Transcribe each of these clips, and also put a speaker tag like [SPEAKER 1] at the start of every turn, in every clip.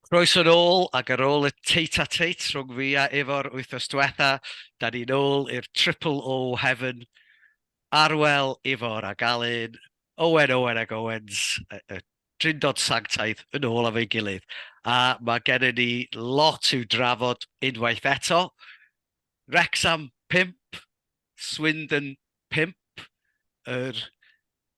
[SPEAKER 1] Croeso nôl, ac ar ôl y tete-a-tete rhwng fi a Ifor wythnos diwetha, da ni nôl i'r triple O Heaven, Arwel, Ifor ac Alun, Owen, Owen ac Owens, y drindod sanctaidd yn ôl efo'i gilydd. A mae gennym ni lot i'w drafod unwaith eto. Wrecsam pump, Swindon 5, yr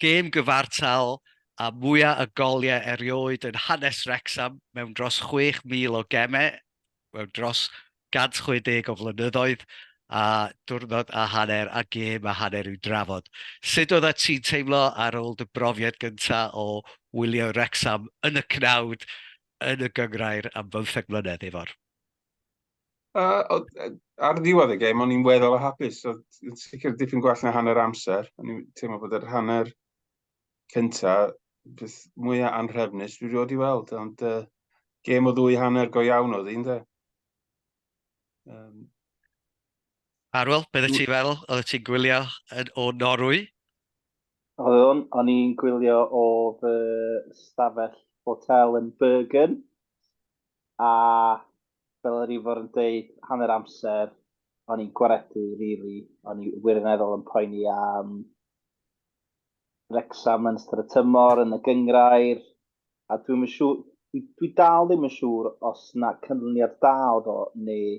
[SPEAKER 1] gêm gyfartal â mwyaf o goliau erioed yn hanes Wrecsam mewn dros 6,000 o gemau mewn dros 160 o flynyddoedd, a diwrnod a hanner a gêm a hanner i'w drafod. Sut oeddet ti'n teimlo ar ôl dy brofiad gyntaf o wylio Wrecsam yn y cnawd yn y gynghrair am bymtheg mlynedd, Ifor? Uh, ar ddiwedd y gêm, o'n i'n weddol o hapus. So, yn sicr dipyn gwell na hanner amser. O'n i'n teimlo bod yr hanner cynta beth mwyaf anrhefnus dwi rioed i weld. Ond uh, gêm o ddwy hanner go iawn oedd un, de. Um, Arwel, beth ydych ti fel? Oedd ti'n gwylio o Norwy? Oeddwn, o'n i'n gwylio o fy stafell hotel yn Bergen. a fel yr ifor yn dweud, hanner amser, o'n i'n gwaredu, rili, o'n i wirioneddol yn poeni am Wrexham yn ystod y tymor, yn y gyngrair, a dwi'n siŵr, dwi, dwi dal ddim yn siŵr os na canlyniad da oedd o, neu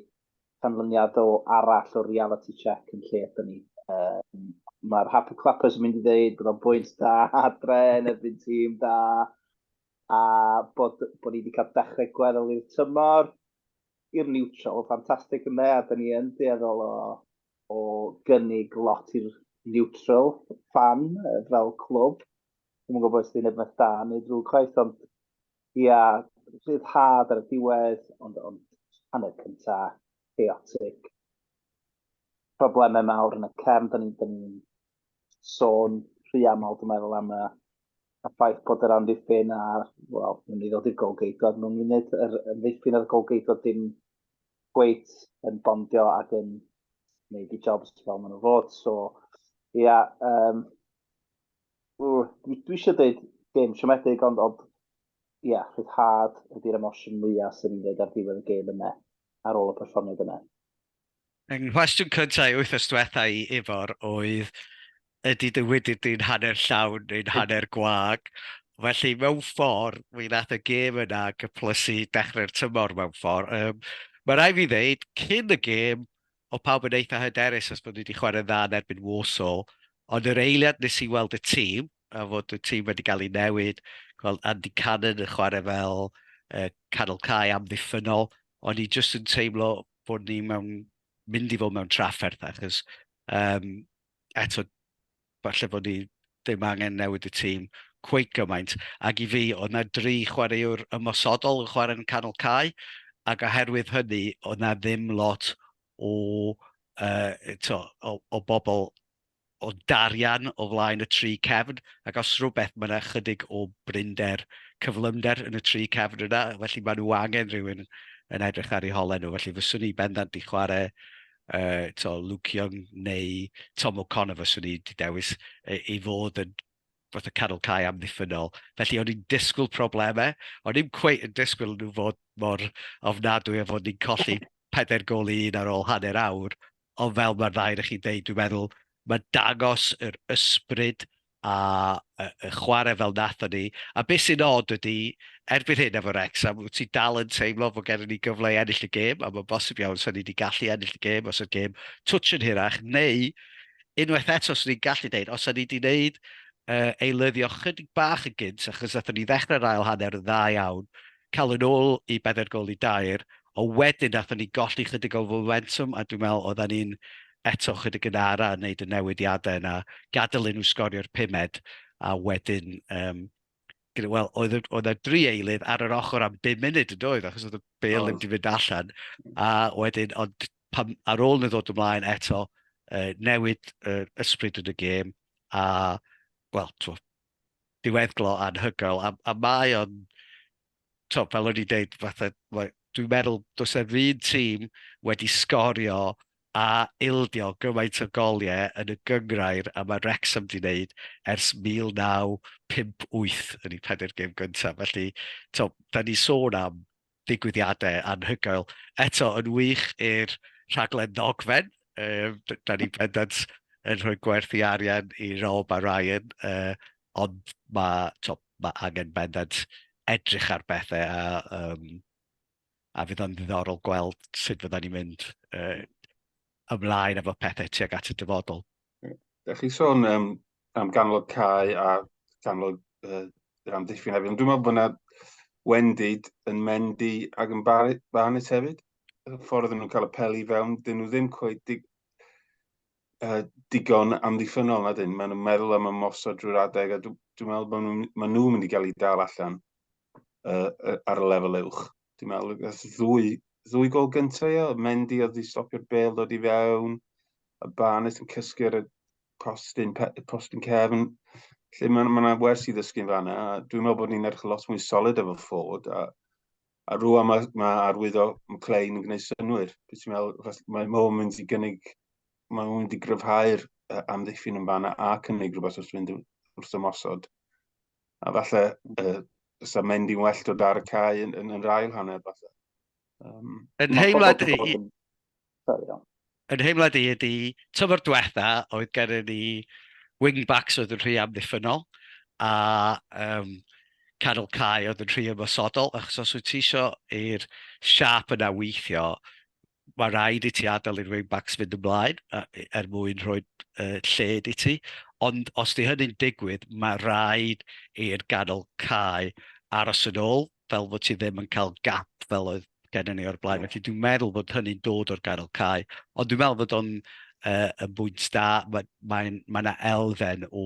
[SPEAKER 1] canlyniad o arall o reality check yn lle ydyn ni. Um, Mae'r Happy Clappers yn mynd i ddeud bod o'n bwynt da adre yn erbyn tîm da, a bod, bod ni wedi cael dechrau gweddol i'r tymor, i'r neutral, ffantastig yn dde, a da ni yn dueddol o, o gynnig lot i'r neutral fan fel clwb. Dwi'n gwybod bod sy'n edrych da neu drwy chwaith, ond ia, rhyddhad ar y diwedd, ond, ond hanner cynta, chaotic. Problemau mawr yn y cefn, da ni'n ni sôn rhy aml, dwi'n meddwl, am y a ffaith bod yr amddiffyn a, wel, yn mynd i ddod i'r golgeidod mewn munud, yr amddiffyn a'r golgeidod dim gweith yn bondio ac yn gwneud i jobs fel maen nhw fod. So, ia, yeah, um, dwi, dwi eisiau dweud gêm siomedig, ond, ond ia, yeah, rhyddhad ydy'r emosiwn mwyaf sy'n ni'n dweud ar ddiwedd y gêm yna, ar ôl y perfformiad yna. Yng nghwestiwn cyntaf i wythnos diwetha i Ifor oedd ydy dy widir di'n hanner llawn neu'n hanner gwag. Felly, mewn ffordd, mi nath y gêm yna gyplysu dechrau'r tymor mewn ffordd. Um, mae rai fi ddeud, cyn y gêm, o pawb yn eitha hyderus os bod ni wedi chwarae'n dda yn erbyn Warsaw, ond yr eiliad nes i weld y tîm, a fod y tîm wedi cael ei newid, gweld Andy Cannon yn chwarae fel uh, canol cae amddiffynol, o'n i jyst yn teimlo bod ni mewn, mynd i fod mewn trafferth, achos um, eto, falle bod ni ddim angen newid y tîm cweith gymaint. Ac i fi, oedd na dri chwaraewr ymosodol yn chwarae yn canol cae, ac oherwydd hynny, oedd na ddim lot o, uh, to, o, o bobl o darian o flaen y tri cefn, ac os rhywbeth, mae 'na ychydig o brinder, cyflymder yn y tri cefn yna, felly maen nhw angen rhywun yn edrych ar eu holau nhw, felly fyswn i bendant 'di chwarae uh, to Luke Young neu Tom O'Connor fyswn i 'di dewis ei, ei fod yn fath o canol cae amddiffynol. Felly o'n i'n disgwyl problemau, o'n i'n cweith yn disgwyl nhw fod mor ofnadwy a fod ni'n colli pedair gol i un ar ôl hanner awr, Ond fel mae'r ddau o'ch chi'n dweud, dwi'n meddwl, mae'n dangos yr ysbryd a y, y chwarae fel nathon ni. A beth sy'n od ydy, erbyn hyn efo Rex, am wyt ti dal yn teimlo bod gennym ni gyfle i ennill y gêm, a mae'n bosib iawn sy'n ni wedi gallu ennill y gêm os ydy'r gêm twtch yn hirach, neu unwaith eto sy'n ni'n gallu dweud, os ydy ni wedi gwneud uh, eilyddio chydig bach yn gynt, achos nathon ni ddechrau'r ail hanner yn dda iawn, cael yn ôl i bedair gol i dair, ond wedyn wnaethon ni golli chydig o fomentwm a dwi'n meddwl oedden ni'n eto chydig yn ara yn wneud y newidiadau yna, gadael i nhw sgorio'r pumed a wedyn yym gyda wel oedd oedd y dri eilydd ar yr ochr am bum munud yn doedd achos oedd y bel ddim wedi mynd allan a wedyn ond pan ar ôl nhw ddod ymlaen eto uh, newid uh, ysbryd yn y gêm a wel twf, diweddglo anhygoel, a, a mae o'n, to, fel o'n i'n deud, fatha, dwi'n meddwl, does e'r un tîm wedi sgorio a ildio gymaint o goliau yn y gyngrair a mae Wrexham wedi gwneud ers 1958 yn ei phader gêm gyntaf. Felly, to, da ni sôn am digwyddiadau anhygoel. Eto, yn wych i'r rhaglen ddogfen, um, da ni bendant yn rhoi gwerth i arian i Rob a Ryan, uh, ond mae to, ma angen bendant edrych ar bethau a, um, a fydd o'n ddiddorol gweld sut fydda ni'n mynd uh, ymlaen efo pethau tuag at y dyfodol. Da chi sôn um, am ganlog cae a ganlog uh, yr amddiffyn hefyd, ond dwi'n meddwl bod yna wendid yn mendi ac yn barnus hefyd. Y ffordd nhw'n cael y peli fewn, dyn nhw ddim coed dig, uh, digon amddiffynol na dyn. Maen nhw'n meddwl am ymosod drwy'r adeg a dwi'n dwi meddwl bod nhw'n ma nhw mynd i gael ei dal allan uh, ar y lefel uwch. dwi'n meddwl, gath ddwy, ddwy gol gyntaf, ia. Mendy oedd wedi stopio'r bel dod i fewn, a Barnett yn cysgu ar y postyn, postyn cefn. Lle mae yna wers i ddysgu'n fanna, a dwi'n meddwl bod ni'n edrych lot mwy solid efo ffod, a, a rwan mae, mae arwyddo McLean yn gwneud synwyr. Dwi'n ti'n meddwl, mae Mo yn mynd i gynnig, mae Mo'n mynd i gryfhau'r amddiffyn yn fanna a cynnig rhywbeth wrth fynd wrth ymosod. a falle uh, sa mynd i'n well dod ar y cae yn, yn, yn yr ail hanner falle. Um, yn heimlad i... Yn heimlad i ydy, tyfod diwetha oedd gennym ni wingbacks oedd yn rhy amddiffynol a um, canol cae oedd yn rhy ymosodol achos os wyt ti eisiau i'r siap yna weithio mae rhaid i ti adael i'r wing-backs fynd ymlaen er mwyn rhoi lled i ti. Ond os di hynny'n digwydd, mae rhaid i'r ganol cae aros yn ôl, fel bod ti ddim yn cael gap fel oedd gen ni o'r blaen. Felly dwi'n meddwl bod hynny'n dod o'r ganol cae. Ond dwi'n meddwl bod o'n uh, yn bwynt da. Mae'n mae, mae elfen o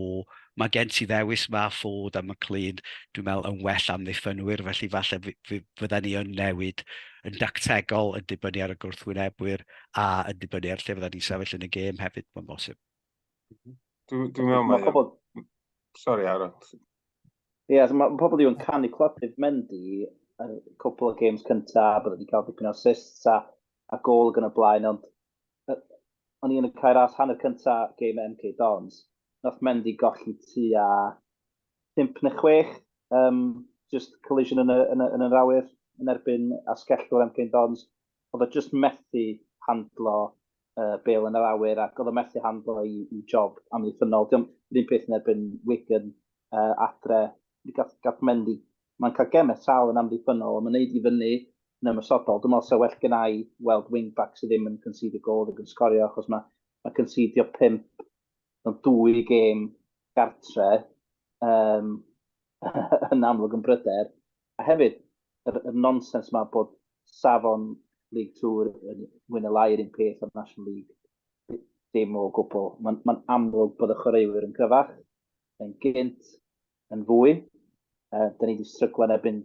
[SPEAKER 1] Mae gen ti ddewis 'ma, Ford a McLean, dwi'n meddwl yn well amddiffynwyr, felly falle fydden ni yn newid yn dactegol yn dibynnu ar y gwrthwynebwyr a yn dibynnu ar lle fydden ni'n sefyll yn y gêm hefyd, mae'n bosib. Dwi'n dwi meddwl mae... Pobl... Sorry, Aaron. Ie, yeah, so mae pobl diw'n canu clodydd Mendy yn cwpl o games cyntaf, bod wedi cael dipyn o assists a, a gol yn y blaen, ond o'n i yn y cae ras hanner cynta game at MK Dons. Nath Mendy golli tu a 5 neu 6, um, just collision yn y, yn y, yn yr awyr yn erbyn asgellwr MK Dons. Oedd o just methu handlo uh, bel yn yr awyr ac oedd o methu handlo i, i job amddiffynol. Diolch yn un peth yn erbyn Wigan uh, adre. Gath, gath Mendy Mae'n cael gemau tal yn amddiffynnol, ond mae'n neud i fyny yn ymosodol. Dwi'n meddwl 'sa well gennai weld wing-back sy ddim yn concedio gôl ddim yn sgorio, achos mae mae concedio pump mewn dwy gêm gartre um, yn amlwg yn bryder. A hefyd, yr, yr nonsens yma bod safon League Tour yn mwy na lai yr un peth o'r National League. Dim o gwbl. Mae'n ma amlwg bod y chwaraewyr yn gryfach, yn gynt, yn fwy. Uh, da ni wedi stryglo yn ebyn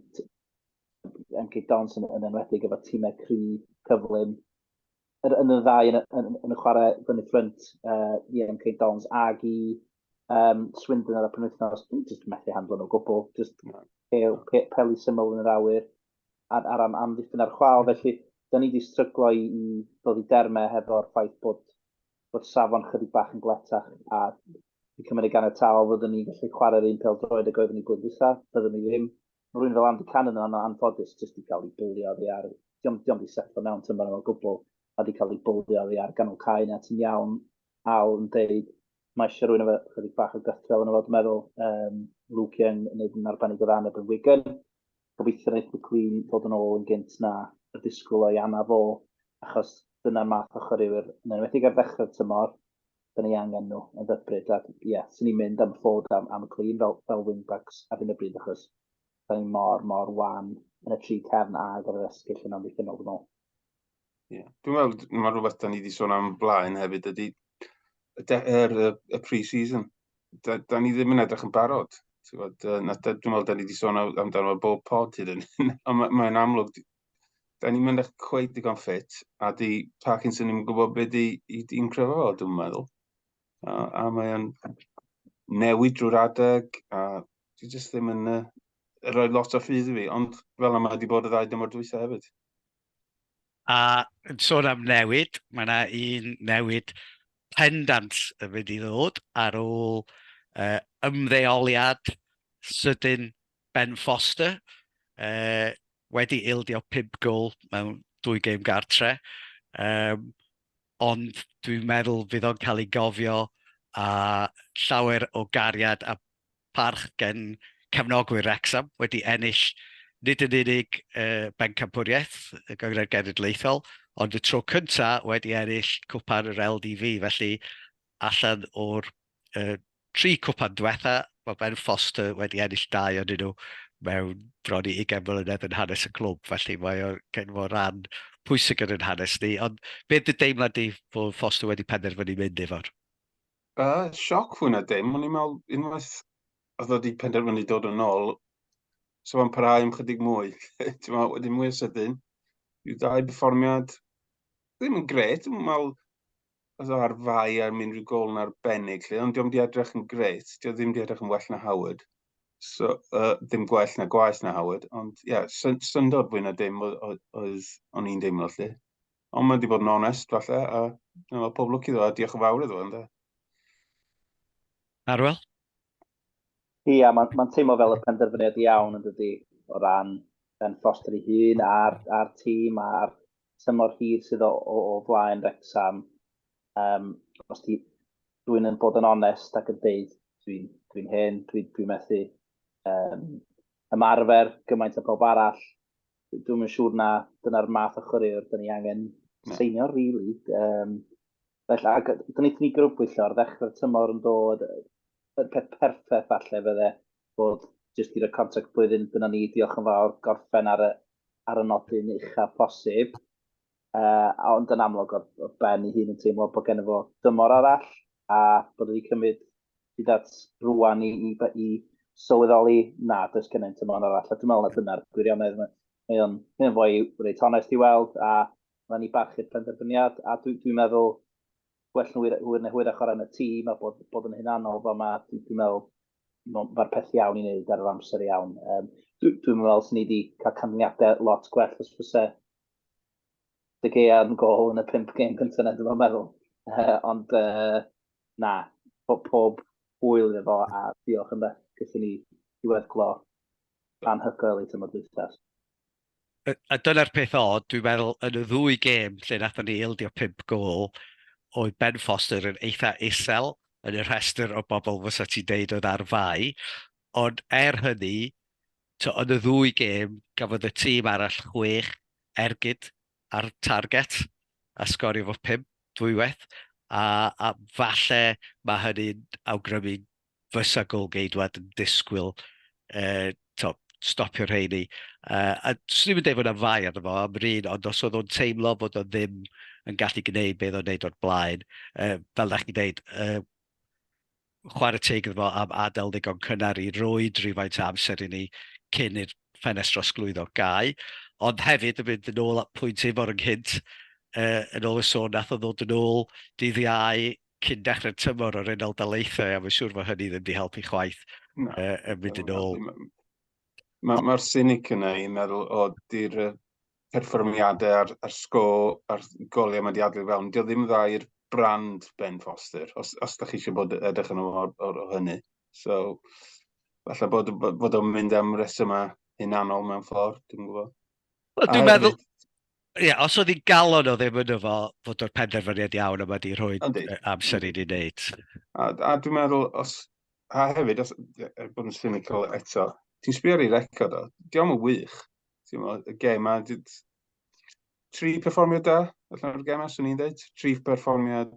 [SPEAKER 1] Enki Dons yn, yn enwedig efo tîmau cri, cyflym, yn, yn y ddau yn, yn, yn y chwarae fyny ffrynt uh, i MK Dons ag i um, Swindon ar y penwythnos, dwi'n just methu handlo nhw gwbl, just no. pel, pe, pel i syml yn yr awyr ar, ar am, amddiffyn ar chwal, felly da ni wedi stryglo i, i ddod i dermau hefo'r ffaith bod, bod safon chydig bach yn gletach a Fi'n cymryd ganiataol fyddwn ni'n gallu chwarae'r un pel droed ag oeddwn ni blwyddyn dwytha, byddwn ni ddim. Mae rwy'n fel Andy Cannon yn anffodus jyst di cael ei bwlio oddi ar, diom, diom di setlo mewn tymor yma o gwbl, a di cael ei bwlio oddi ar ganol cae na ti'n iawn, Al yn deud. Mae eisiau rwy'n efo chydig bach o gythrel yn efo, dwi'n meddwl. Um, Luke Young yn neud yn arbennig o ddan erbyn Wigan. Gobeithio wneud McLean ddod yn ôl yn gynt na y disgwyl o'i anaf o, achos dyna'r math o chwaraewyr, yn enwedig ar ddechrau'r tymor, da ni angen nhw yn ddybryd. A ie, yeah, sy'n ni'n mynd am ffod am, am clean fel, fel wingbacks ar hyn o bryd achos da ni mor, mor wan yn y tri cefn a gyda'r esgyll yn amddiffynol yn ôl. Ie, yeah. dwi'n meddwl mae rhywbeth da ni wedi sôn am blaen hefyd ydy er, y, y pre-season. Da, da ni ddim yn edrych yn barod. Dwi'n meddwl, da ni wedi sôn amdano bob pod hyd yn hyn. Mae'n amlwg, da ni'n mynd eich cweith digon ffit, a di Parkinson ni'n gwybod beth di, i di'n crefo fo, dwi'n meddwl. A, a mae'n newid drwy'r adeg, a di jyst ddim yn uh, rhoi lot o ffydd i fi, ond fel yma wedi bod y ddau dymor dwytha hefyd. A yn sôn am newid, mae yna un newid pendant yn mynd i ddod ar ôl uh, ymddeoliad sydyn Ben Foster, uh, wedi ildio 5 gol mewn dwy gêm gartre, um, ond dwi'n meddwl fydd o'n cael ei gofio a llawer o gariad a parch gen cefnogwyr Wrexham wedi ennill nid yn unig uh, bencampwriaeth y Gyngrhair Genedlaethol, ond y tro cyntaf wedi ennill cwpa'r yr LDV, felly allan o'r Y tri cwpan diwetha, mae Ben Foster wedi ennill dau o'n nhw mewn bron i 20 mlynedd yn hanes y clwb, felly mae o gen fo ran pwysig yn yn hanes ni. Ond beth dy deimlad di bod Foster wedi penderfynu mynd efo'r? Uh, sioc fwy na dim, ond i'n meddwl unwaith oedd wedi penderfynu dod yn ôl, so fan parhau am chydig mwy. Ti'n meddwl, wedyn mwy o sydyn, yw dau berfformiad, ddim yn gret, i'n meddwl, oedd o ar fai am unrhyw gol yn arbennig lle, ond diolch di edrych yn greit, diolch ddim di edrych yn well na Howard. So, uh, ddim gwell na gwaith na Howard, ond ie, yeah, syn syndod fwy na dim oedd o'n i'n deimlo lle. Ond mae wedi bod yn onest falle, a dyna fel pob lwc iddo, a diolch yn fawr iddo, ynddo. Arwel? Ie, yeah, mae'n ma teimlo fel y penderfyniad iawn yn dydy, o ran Ben Foster ei hun a'r, ar tîm a'r tymor hir sydd o, o, o flaen Wrexham. Um, os di rwy'n yn bod yn onest ac yn deud, dwi'n dwi hen, dwi'n dwi methu um, ymarfer gymaint o pob arall. Dwi'n yn siŵr na dyna'r math o chwaraewr dyn ni angen yeah. seinio, really. Um, Felly, ac gwnaethon ni grybwyllo ar ddechrau'r tymor yn dod, y peth perffaith falle fydde bod jyst i roi contract blwyddyn gyda ni, diolch yn fawr, gorffen ar y, ar y nodyn uchaf posib. Uh, ond yn amlwg oedd, oedd Ben ei hun yn teimlo bod gen fo dymor arall a bod wedi cymryd hyd at rwan i, i, i sylweddoli na, does gen i'n tymor arall. A dwi'n meddwl na dyna'r gwirionedd. Mae o'n, mae o'n fwy reit onest i weld a Mae'n i barchu'r penderfyniad, a dwi'n dwi meddwl gwell nhw hwyr neu hwyrach o ran y tîm a bod, bod yn hunanol fel mae, dwi'n dwi meddwl mae'r peth iawn i wneud ar yr amser iawn. Um, dwi'n dwi meddwl sy'n ni wedi cael canlyniadau lot gwell os fyse dy gea yn gol yn y pimp gêm cyntaf na dwi'n meddwl. Uh, ond uh, na, pob, pob hwyl iddo fo a diolch yn beth gyda ni i weddglo anhygoel i tymor dwythas. A dyna'r peth od, dwi'n meddwl, yn y ddwy gêm lle wnaethon ni ildio pump gôl, oedd Ben Foster yn eitha isel yn y rhestr o bobl fysa ti'n deud oedd ar fai, ond er hynny, to, yn y ddwy gêm, gafodd y tîm arall chwech ergyd ar target a sgorio fo pump dwywaith, a, a falle mae hynny'n awgrymu fysa Gôl-geidwad yn disgwyl tibod stopio rheini. A 'swn i'm yn deud bod 'na fai arno fo am yr un, ond os oedd o'n teimlo bod o ddim yn gallu gwneud be oedd o'n wneud o'r blaen, fel dach chi'n deud, chwarae teg iddo fo am adael ddigon cynnar i roi rhywfaint o amser i ni cyn i'r ffenest drosglwyddo gau. Ond hefyd, yn mynd yn ôl at pwynt Ifor ynghynt, yn ôl y sôn wnaeth o ddod yn ôl dydd Iau cyn dechrau'r tymor o'r Unol Daleithiau, a mae'n siŵr fod hynny ddim wedi helpu chwaith no. uh, yn mynd yn ôl. Mae'r ma, sinig yna i'n meddwl o di'r perfformiadau a'r, ar sgo a'r goliau mae wedi adlu fewn. Dio ddim dda i'r brand Ben Foster, os, os da chi eisiau bod edrych yn o'r, or, or hynny. So, falle bod, bod o'n mynd am resymau hunanol mewn ffordd, dwi'n gwybod. Dwi'n meddwl, Ie, os oedd hi'n galon o ddim yn efo fod o'r penderfyniad iawn yma di rhoi amser i ni wneud. A, a dwi'n meddwl, os, a hefyd, os, er bod yn cynical eto, ti'n sbio ar ei record o, diolch yn wych. Ti'n meddwl, y gem a, tri perfformiad da, allan o'r gem a, swn i'n dweud, tri perfformiad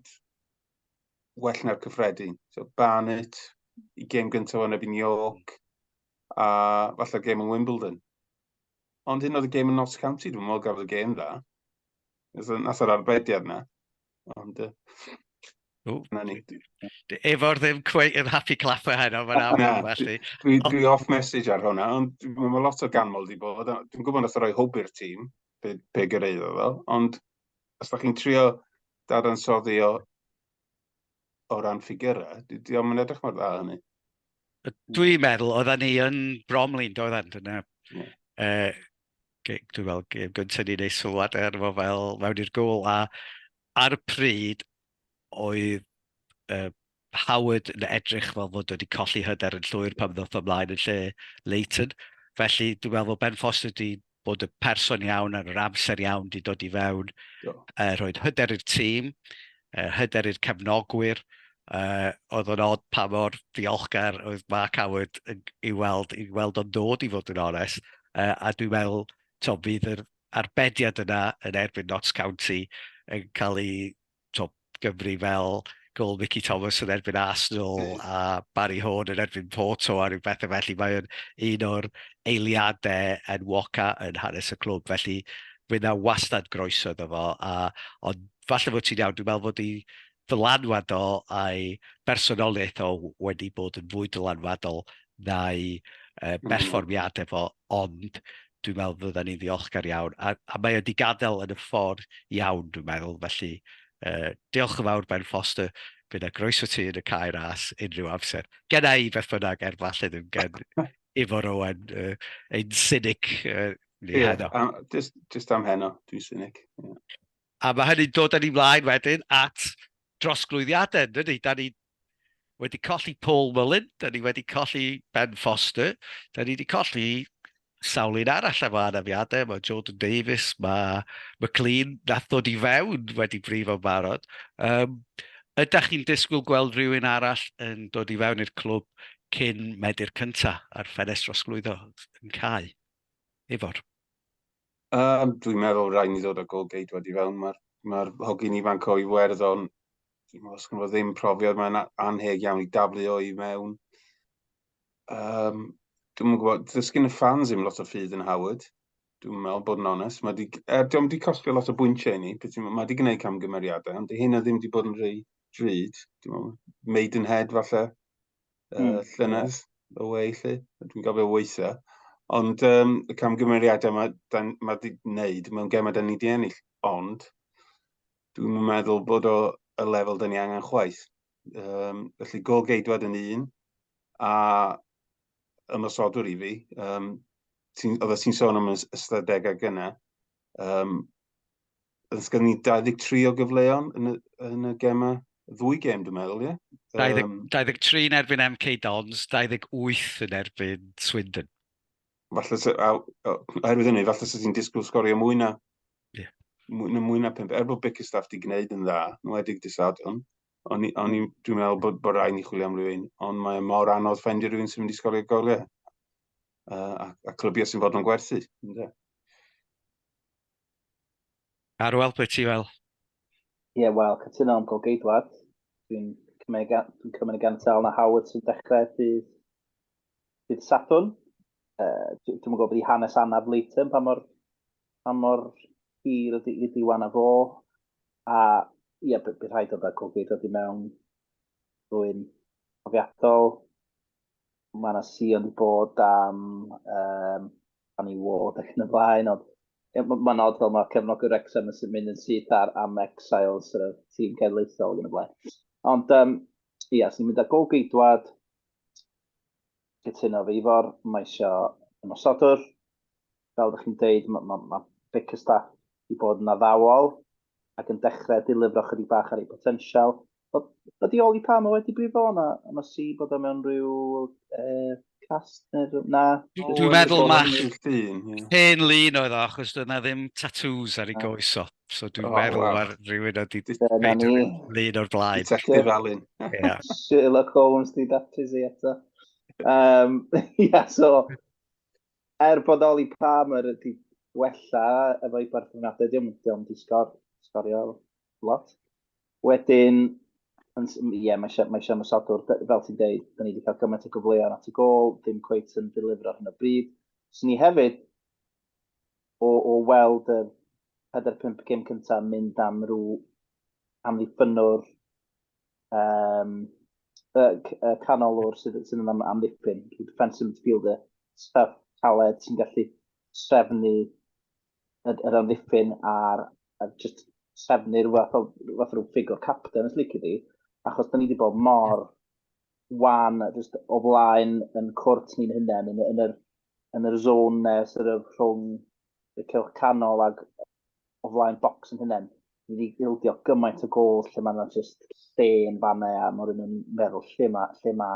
[SPEAKER 1] well na'r cyffredin. So, Barnet, i gem gyntaf o'n erbyn York, a falle gem yn Wimbledon. Ond hyn oedd y gêm yn Notts County, dwi'n meddwl gafodd y gêm dda. Nath yr arbediad na. Ond, Efo'r ddim cweith yn happy clapper heno, mae'n aml yn felly. Dwi, dwi off message ar hwnna, ond mae lot o ganmol di bod. Dwi'n gwybod nath roi hwb i'r tîm, be, be gyreiddo ddo, ond os da chi'n trio dadansoddi o o ran ffigurau, di, di o'n edrych mor dda hynny. Dwi'n meddwl, oedden ni yn bromlin, doedden, dyna... Yeah. Uh, dwi'n meddwl, gêm gyntaf ni'n ei sylwad ar efo fel mewn i'r gol, a ar y pryd oedd uh, Howard yn edrych fel fod wedi colli hyder yn llwyr pan ddoth ymlaen yn lle Leighton. Felly dwi'n meddwl bod Ben Foster wedi bod y person iawn ar yr amser iawn wedi dod i fewn, uh, rhoi hyder i'r tîm, uh, hyder i'r cefnogwyr, uh, oedd o'n od pa mor ddiolchgar oedd Mark Howard i weld, i weld o'n dod i fod yn ones, uh, a dwi'n meddwl, to, bydd yr arbediad yna yn erbyn Notts County yn cael ei to, Gymru fel gol Mickey Thomas yn erbyn Arsenal mm. a Barry Horn yn erbyn Porto a rhyw bethau felly. Mae o'n un o'r eiliadau yn Woca yn hanes y clwb, felly fe na wastad groeso iddo fo. A, ond falle fod ti'n iawn, dwi'n meddwl fod i ddylanwad o a'i bersonoliaeth o wedi bod yn fwy dylanwadol na'i uh, berfformiadau fo, ond dwi'n meddwl fydden ni'n ddiolchgar iawn, a, a mae wedi gadael yn y ffordd iawn, dwi'n meddwl, felly uh, diolch yn fawr Ben Foster, bydd yna groeso ti yn y cae ras unrhyw amser. Gen i beth bynnag, er falle ddim gen Ifor Owen, uh, ein cynic uh, ni yeah, heno. Um, just, just am heno, dwi'n cynic. Yeah. A mae hynny'n dod yn ei mlaen wedyn at drosglwyddiadau, dydy? Da ni wedi colli Paul Mullin, da ni wedi colli Ben Foster, da ni wedi colli sawl un arall efo anafiadau, mae Jordan Davies, mae McLean, nath ddod i fewn wedi brifo barod. Um, ydych chi'n disgwyl gweld rhywun arall yn dod i fewn i'r clwb cyn medu'r cyntaf a'r ffenest drosglwyddo yn cael? Efo'r. Um, dwi'n meddwl rhaid ni ddod o gol geidwad i fewn. Mae'r ma hogyn ifanc o Iwerddon, dwi'n meddwl os gynno ddim profiad, mae'n anheg iawn i daflu o i mewn. Um, dwi'n meddwl, gwybod, does gen y ffans ddim lot o ffydd yn Howard. Dwi'n meddwl bod yn onest. Mae di, er, diolch wedi costio lot o bwyntiau i ni, mae wedi gwneud camgymeriadau, ond hyn o ddim wedi bod yn rhy drud. Dwi'n meddwl, made in head falle. uh, mm. llynedd y wei, lle. Dwi'n gofio weithiau. Ond um, y camgymeriadau mae ma wedi gwneud mewn gemau da ni wedi ennill. Ond dwi'n meddwl bod o y lefel da ni angen chwaith. Um, felly gol geidwad yn un a ymosodwr i fi. Um, oedd ti'n sôn am ystadegau gyna. Um, Os gen ni 23 o gyfleon yn y, yn y gemau, ddwy gem dwi'n meddwl, ie? Yeah? Um, 23 yn erbyn MK Dons, 28 yn erbyn Swindon. Falle, se, a, oherwydd hynny, falle sydd ti'n disgwyl sgorio mwy na, yeah. mwy, na, mwy na 5. Er bod Bickerstaff di gwneud yn dda, nhw edig disadwn, o'n i, dwi'n meddwl bod, bod rhaid ni chwilio am rhywun, ond mae mor anodd ffendio rhywun sy'n mynd i sgorio goliau. Uh, a, a clybiau sy'n fod yn gwerthu. Yeah. Ar wel pwy ti fel? Ie, yeah, wel, cytuno am golgeidwad. Dwi'n cymryd, dwi'n cymryd y gantal na Howard sy'n dechrau dydd, dydd Sadwn. Uh, dwi'n gwybod bod i hanes anaf Leighton pa mor, pa mor hir ydy, ydy wan a fo. A ie, yeah, bydd rhaid o dda golgeidwad i mewn rwy'n profiadol. mae yna sion wedi bod am, um, am i wod ac yn y blaen, ond mae'n ma nod fel mae cefnogwr Wrexham yn mynd yn syth ar am Exiles, yr tîm cenedlaethol ac yn y blaen. Ond, um, ia, yes, ni'n mynd â gol geidwad, cytuno fe Ifor, mae eisiau ymosodwr, fel ydych chi'n dweud, mae ma, ma Vicar Staff wedi bod yn addawol ac yn dechrau dilifro chydig bach ar ei potensial. Ydy Oli Palmer wedi brifo yna? Yna si bod o mewn rhyw uh, cast neu na? Dwi'n meddwl mae hen lun oedd o, achos dwi'n na ddim tattoos ar ei ah. goes o. So dwi'n oh, meddwl wow. ar rhywun oedd wedi lun o'r blaen. Detective Alun. Sherlock Holmes di daptis i eto. Um, yeah, so, Er bodoli Palmer wedi gwella efo'i berthynas, dio'm, dio'm di sgor, sgorio lot. Wedyn, ie, yeah, mae eisiau, mae eisiau ymwysodwr, fel ti'n deud, da ni wedi cael gymaint o gyfleoedd at y gol, ddim cweith yn delifro hyn o bryd. Swn ni hefyd, o, o weld y 4-5 gym cyntaf mynd am rhyw amddiffynwr um, y, y canolwr sydd, sydd yn am, amddiffyn, defensive midfielder, staff taled sy'n gallu trefnu yr amddiffyn a'r, a just trefnu'r fath o, fath o ffigwr captain, os licio di, achos da ni wedi bod mor wan just o flaen yn cwrt ni'n hynny, yn, yn, yr, yn yr zone nes yr rhwng y cylch canol ac o flaen bocs yn hynny. Ni wedi ildio gymaint o gol lle mae yna jyst lle yn fanna a mae rhywun yn meddwl lle mae'r lle ma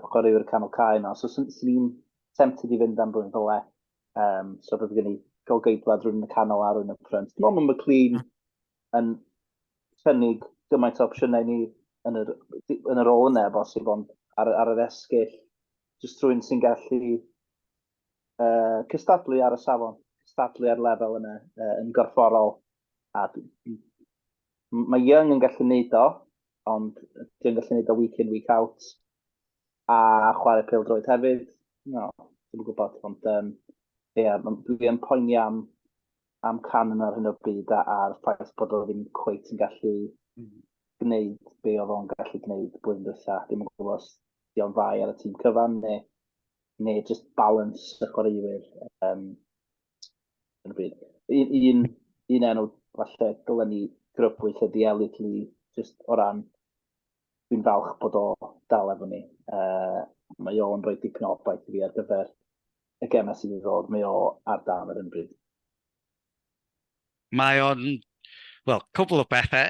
[SPEAKER 1] chwaraewyr canol cae yna. So sy'n sy ni'n tempted i fynd am rhywun fel e. Um, so bydd gen i golgeidwad rhywun yn y canol a rhywun yn y ffrynt. Dwi'n meddwl mae McLean yn cynnig gymaint o opsiynau ni yn yr, yn yr ôl yna, bosib, ond ar, ar yr esgyll, jyst rhywun sy'n gallu uh, cystadlu ar y safon, cystadlu ar lefel yna uh, yn gorfforol. A mae Young yn gallu neud o, ond dwi'n gallu neud o week in, week out. A chwarae pil droed hefyd, no, dwi'n gwybod, ond um, yeah, dwi'n poeni am, am can yna ar hyn o bryd a'r ffaith bod o ddim cweit yn gallu mm. gwneud be oedd o'n gallu gwneud blwyddyn dwytha. Dwi'n gwybod os diolch fai ar y tîm cyfan neu neu just balance y chwaraewyr. Um, yn y byd. Un, un, un enw falle dylen ni grybwyll ydi Elliot Lee, just o ran dwi'n falch bod o dal efo ni. Uh, mae o'n rhoi dipyn o obaith i fi ar gyfer y gemau sydd i ddod. Mae o ar dan yr ymbryd. Mae o'n, wel, cwbl o bethe.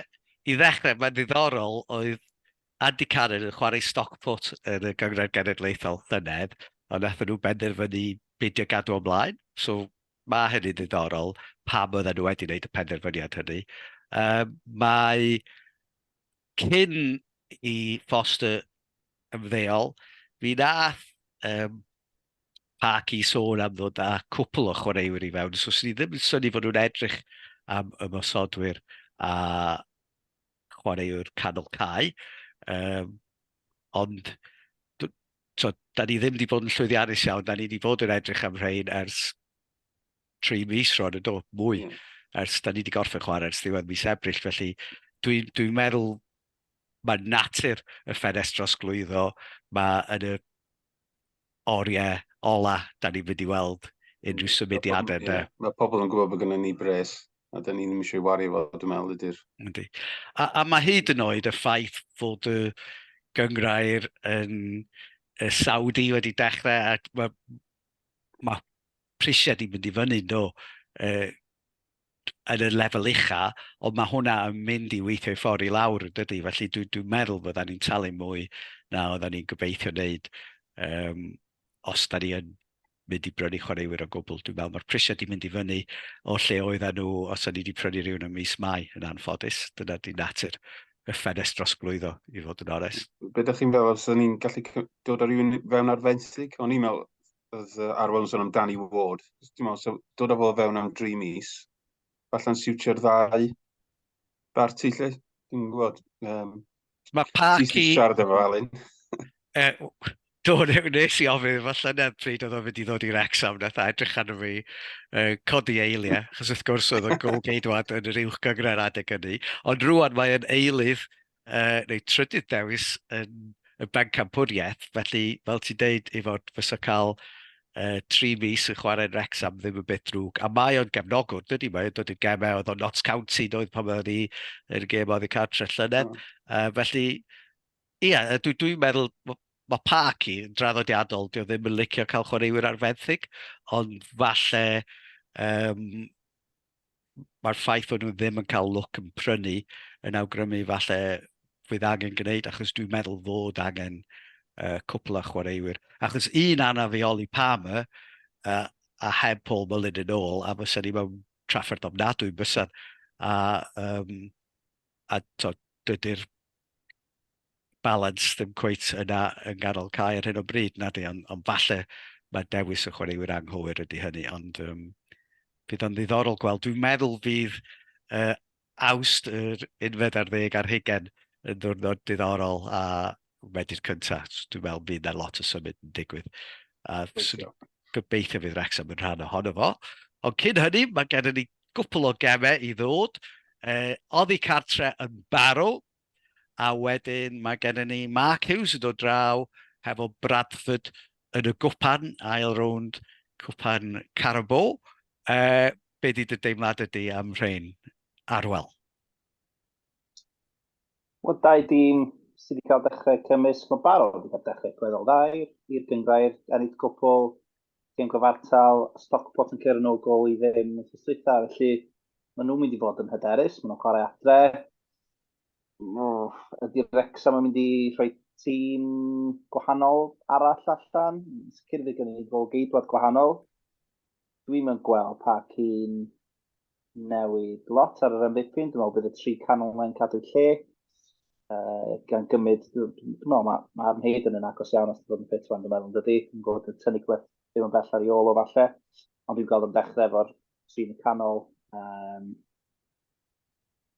[SPEAKER 1] I ddechrau, mae'n ddiddorol, oedd Andy Cannon yn chwarae stoc pwt yn y Gynghrair Genedlaethol llynedd, ond nathon nhw benderfynu beidio gadw o mlaen, so ma' hynny'n ddiddorol pam oedden nhw wedi wneud y penderfyniad hynny. Yy mae Cyn i Foster ymddeol, mi wnaeth um, Parky sôn am ddod â cwpl o chwaraewyr i fewn, so sy'n ni ddim yn syni fod nhw'n edrych am ymosodwyr a chwaraewr canol cae. Um, ond, so, da ni ddim wedi bod yn llwyddiannus iawn, da ni wedi bod yn edrych am rhain ers tri mis rhwyd y do, mwy, mm. ers da ni wedi gorffen chwarae ers ddiwedd mis Ebrill, felly dwi'n dwi, dwi meddwl mae natur y ffenest dros glwyddo, mae yn y oriau ola da ni'n mynd i weld unrhyw mm. symudiadau. Mae, yeah. mae pobl yn gwybod bod gennym ni bres, a da ni ddim eisiau wario fo, dwi'n meddwl, ydy'r... Ydy. A, a mae hyd yn oed y ffaith fod y gyngrair yn y Saudi wedi dechrau, a mae ma prisiau di mynd i fyny nhw uh, yn y lefel ucha, ond mae hwnna yn mynd i weithio i ffordd i lawr yn dydy. Felly dwi'n dwi meddwl fydda ni'n talu mwy na oedda ni'n gobeithio wneud um, os da ni yn mynd i brynu chwaraewyr o gwbl. Dwi'n meddwl mae'r prisiau di mynd i fyny o lle oedda nhw os o'n ni wedi prynu rhywun yn mis mai yn anffodus. Dyna di natur y ffenest dros glwyddo, i fod yn onest. Be da chi'n meddwl, os o'n ni'n gallu dod ar rhywun fewn ar fensig? O'n i'n meddwl, oedd uh, Arwel yn sôn am Danny Ward. Dwi'n meddwl, so, dod â fo fewn am dri mis, falle'n siwtio'r ddau barti lle. Dwi'n gwybod. Um, Mae Parky... Ti'n siarad efo Alun. e, do, nes i ofyn, falle na pryd oedd o'n mynd i ddod i'r exam, nath a edrych arno fi, uh, codi eiliau, chos wrth gwrs oedd o'n gol geidwad yn yr uwch gyngor adeg ynnu, ond rwan mae'n eilydd uh, neu trydydd dewis yn y bencampwriaeth, felly fel ti'n deud i fod fysa cael uh, tri mis yn chwarae'n Rexham ddim yn beth drwg, a mae o'n gefnogwr, dydy, mae o'n dod i'r gemau, oedd o'n Notts County, doedd pan oedd ni yn y gem oedd y cartre llynedd, mm. uh, felly, ie, yeah, dwi'n dwi meddwl, mae Park i yn draddodiadol, dwi ddim yn licio cael chwaraewyr ar fenthyg, ond falle um, mae'r ffaith bod nhw ddim yn cael look yn prynu yn awgrymu falle fydd angen gwneud, achos dwi'n meddwl fod angen uh, cwpl a chwaraewyr. Achos un anafioli pam y, uh, a heb Paul Mullin yn ôl, a fysa ni mewn trafferth ofnadwy bysan, a, um, a to, dydy'r balans ddim cweit yna yng nghanol cae ar hyn o bryd, na di, ond, ond falle mae dewis y chwaraewyr anghywir ydy hynny, ond um, bydd o'n ddiddorol gweld. Dwi'n meddwl fydd uh, awst yr unfed ar ddeg ar hugen yn ddwrnod diddorol a wedi'r cyntaf. Dwi'n meddwl bydd yna lot o symud yn digwydd. A gobeithio fydd Wrexham yn rhan ohono fo. Ond cyn hynny, mae gennym ni gwpl o gemau i ddod, yy oddi cartre yn barw a wedyn mae gennym ni Mark Hughes yn dod draw hefo Bradford yn y gwpan, ail rownd cwpan Carabo. Uh, be di dy deimlad ydy am rhain, Arwel? Wel, dau dîm sydd wedi cael dechrau cymysg, mae barod wedi cael dechrau gweddol dda i'r gyngrair, ennill cwpl gêm gyfartal, Stockport yn cyrraedd yn ôl gol i ddim yn ffysdwytha, felly maen nhw'n mynd i fod yn hyderus, maen nhw'n chwarae adre. Ydy Rexham yn mynd i rhoi tîm gwahanol arall allan? Sicr fe gen i gol geidwad gwahanol. Dwi'n mynd gweld pa cyn newid lot ar yr amddiffyn. Dwi'n meddwl bydd y tri canol mae'n cadw lle. Uh, gan gymryd, dwi'n meddwl mae ma Arn Hayden yn agos iawn os ti'n bod yn ffit fan, dwi'n meddwl yn dydy. Dwi'n gwybod yn tynnu gwleth ddim yn bell ar ei ôl o falle. Ond dwi'n gweld yn dechrau efo'r tri yn y canol. Um,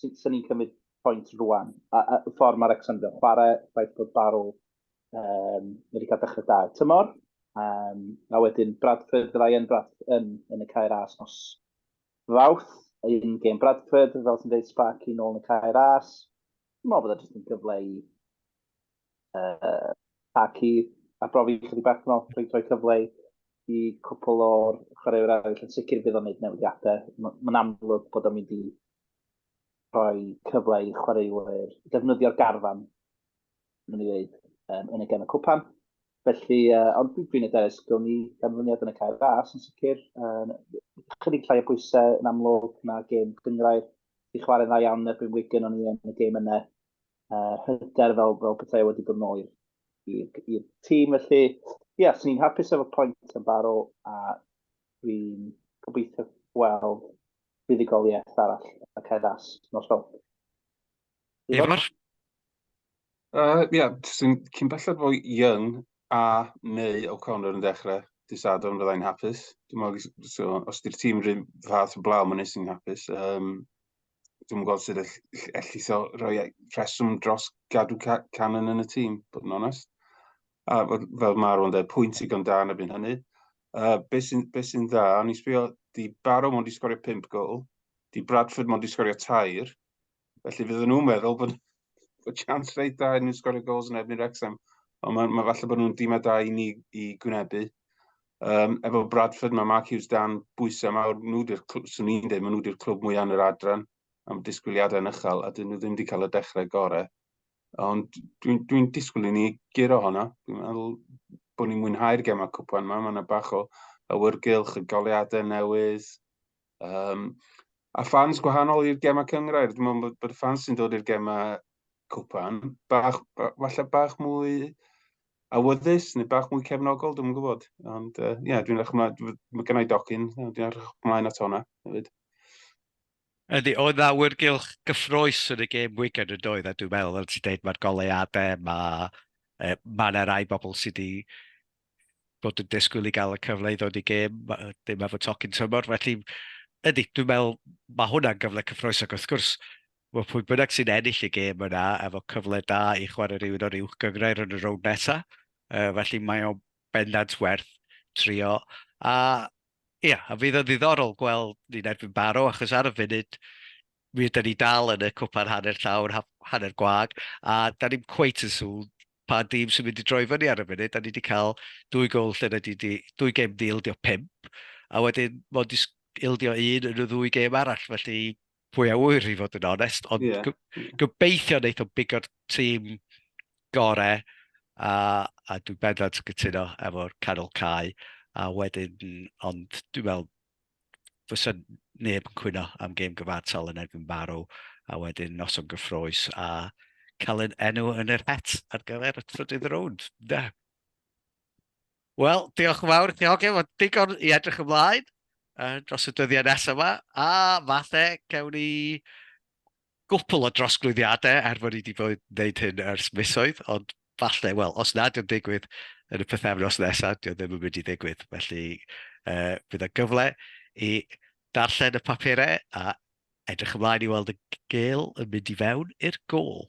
[SPEAKER 1] sut sy'n ni'n cymryd pwynt rwan, a, a ffordd mae Wrexham yn chwarae, ffaith bod Barrow um, wedi cael dechrau da y tymor, um, a wedyn Bradford, fyddai yn, Brad, yn, yn y cair as nos fawth, un gêm Bradford, fel sy'n dweud Sparky nôl yn y cair as. Dwi'n meddwl bod e jyst yn gyfle i uh, ac i abrofi chydig bach yn ôl, rhoi cyfle i cwpl o'r chwaraewyr arall yn sicr bydd o'n gwneud newidiadau. Mae'n amlwg bod o'n mynd i rhoi cyfle i chwaraewyr defnyddio'r garfan, mae'n ei wneud, um, yn y gen y cwpan. Felly, uh, ond dwi'n edrych, gawn ni ganlyniad yn y cael ras yn sicr. Um, chydig llai o bwysau yn amlwg na gêm gyngrair. Di chwarae'n dda iawn erbyn Wigan o'n i yn y gêm yna. uh, hyder fel, fel pethau wedi bod nôl i'r tîm. Felly, ie, yeah, sy'n ni'n hapus efo pwynt yn baro a dwi'n gobeithio gweld buddigoliaeth arall y ceddas nos fel. Ifor? Uh, ie, yeah, sy'n cyn belled fo Young a neu O'Connor yn dechrau dydd Sadwrn fyddai'n hapus. Dwi'n meddwl, so, os di'r tîm rhywun fath o blaw, mae'n nes i'n hapus. Um, dwi'm yn gweld sut all- ll- allith o roi e- rheswm dros gadw Ca- Cannon yn y tîm, bod yn onest. A fel fel ma' Aaron dweud, pwynt digon da yn erbyn hynny. Uh, be sy'n be sy'n dda, o'n i'n sbio, 'di Barrow mond 'di sgorio pump gol, 'di Bradford mond 'di sgorio tair, felly fydden nhw'n meddwl bod bod chance reit dda iddyn nhw sgorio gols yn erbyn Wrexham, ond ma' ma' falle bod nhw'n dîmau da i ni i gwynebu. Um, efo Bradford, mae Mark Hughes dan bwysau mawr. Nhw di'r, swn i'n dweud, maen nhw di'r clwb mwyaf yn yr adran am disgwyliadau yn uchel, a dyn nhw ddim wedi cael y dechrau gorau. Ond dwi'n dwi, dwi disgwyl i ni giro hwnna. Dwi'n meddwl bod ni'n mwynhau'r gemau cwpan yma. Mae yna bach o awyrgylch, y goleadau newydd. Um, a ffans gwahanol i'r gemau cyngrair. Dwi'n meddwl bod, bod y ffans sy'n dod i'r gemau cwpan, bach, falle bach mwy awyddus neu bach mwy cefnogol, dwi'n gwybod. Ond ie, uh, yeah, dwi'n edrych ymlaen, mae gennau docyn, dwi'n edrych ymlaen at hwnna hefyd. Ydy, oedd na wyrgylch gyffroes yn y gêm Wigan yn doedd, a dwi'n meddwl, fel ti'n dweud, mae'r goleuadau, mae e, ma yna rai bobl sydd wedi bod yn disgwyl i gael y cyfle i ddod i gêm, dim efo tocyn tymor, felly ydy, dwi'n meddwl, mae hwnna'n gyfle cyffroes ac wrth gwrs, Mae pwy bynnag sy'n ennill y gêm yna efo cyfle da i chwarae rhywun o'r uwch gynghrair yn y rownd nesaf, uh, felly mae o'n bendant werth trio. A ia, a fydd yn ddiddorol gweld ni'n erbyn Baro, achos ar y funud, mi ydyn ni dal yn y cwpan hanner llawr, hanner gwag, a da ni'n cweit yn sŵn pa dîm sy'n mynd i droi fyny ar y funud, da ni wedi cael dwy gol lle da ni wedi, dwy gêm di ildio pimp, a wedyn mod i ildio un yn y ddwy gêm arall, felly fwy a wyr i fod yn onest, ond yeah. gobeithio wneud o bigo'r tîm gore, a, a dwi'n bendant yn cytuno efo'r canol cae, a wedyn, ond dwi'n meddwl, fysa neb yn cwyno am gêm gyfartal yn erbyn Barrow, a wedyn noson gyffroes, a cael yn enw yn yr het ar gyfer y trydydd rownd. Da. Wel, diolch yn fawr i ti Hogyn, mae digon i edrych ymlaen uh, dros y dyddiau nesaf yma, a fathe gewn ni gwpl o drosglwyddiadau er fod ni wedi bod wneud hyn ers misoedd, ond falle, wel, os nad yw'n digwydd yn y pethefnos nesaf, dio ddim yn mynd i ddigwydd. Felly, uh, bydd y gyfle i darllen y papurau a edrych ymlaen i weld y gel yn mynd i fewn i'r gol.